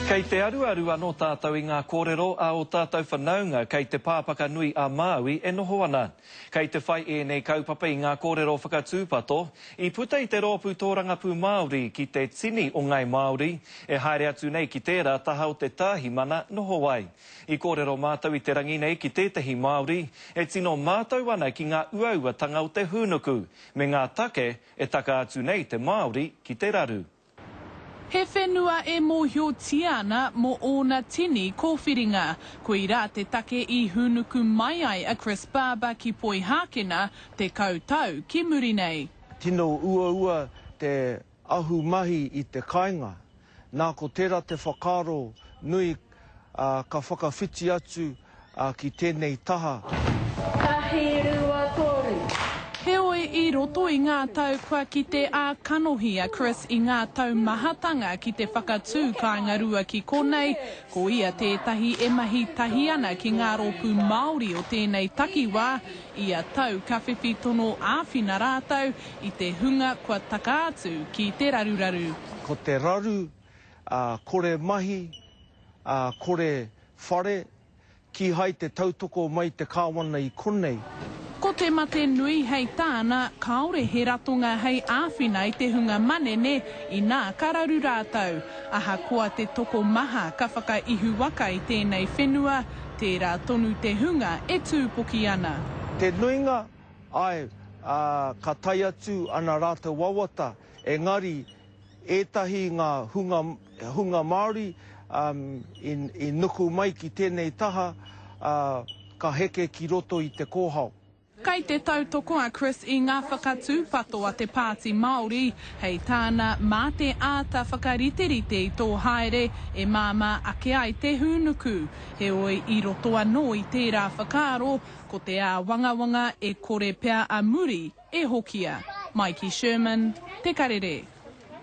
Kei te aruaru anō tātou i ngā kōrero a ō tātou whanaunga kei te pā whakanui a Māui e noho ana. Kei te whai ēnei kaupapa i ngā kōrero whakatūpato i puta i te rōpū tōrangapū Māori ki te tini o Ngāi Māori e haere atu nei ki tērā taha o te Tāhimana noho ai. I kōrero mātou i te rangi nei ki tētahi Māori e tino mātau ana ki ngā uauatanga o te hūnuku me ngā take e taka atu nei te Māori ki te raru. He whenua e mōhiotia ana mō ōna tini kōwhiringa. Koirā te take i hūnuku mai ai a Chris Barber ki Poihākena tekau tau ki muri nei. Tino uaua te ahumahi i te kāinga, nā ko tērā te whakaaro nui ā, ka whakawhiti atu ki tēnei taha. Tahi, rua, toru. Heoi, i roto i ngā tau kua kite ā kanohi a Chris i ngā tau mahatanga ki te whakatū kāinga rua ki konei, ko ia tētahi e mahi tahi ana ki ngā rōpū Māori o tēnei takiwā, ia tau ka whiwhi tono āwhina rātou i te hunga kua taka atu ki te raruraru. Ko te raru ā, kore mahi, ā, kore whare, kīhai te tautoko mai te Kāwana i konei. Ko te mate nui hei tāna, kāore he ratonga hei āwhina i te hunga manene inā ka raru rātou. Ahakoa te tokomaha ka whakaihuwaka i tēnei whenua, tērā tonu te hunga e tūpoki ana. Te nuinga, āe, ā, ka tae atu ana rātou wawata, engari, Ētahi i ngā hunga Māori i nuku mai ki tēnei taha, ā, ka heke ki roto i te kōhao. Kei te tautoko a Chris i ngā whakatūpato a te Pāti Māori, hei tāna, mā te āta whakariterite i tō haere e māmā ake ai te hūnuku. Heoi, i roto anō i tērā whakaaro, Ko te āwangawanga e kore pea a muri e hokia. Maiki Sherman, Te Karere.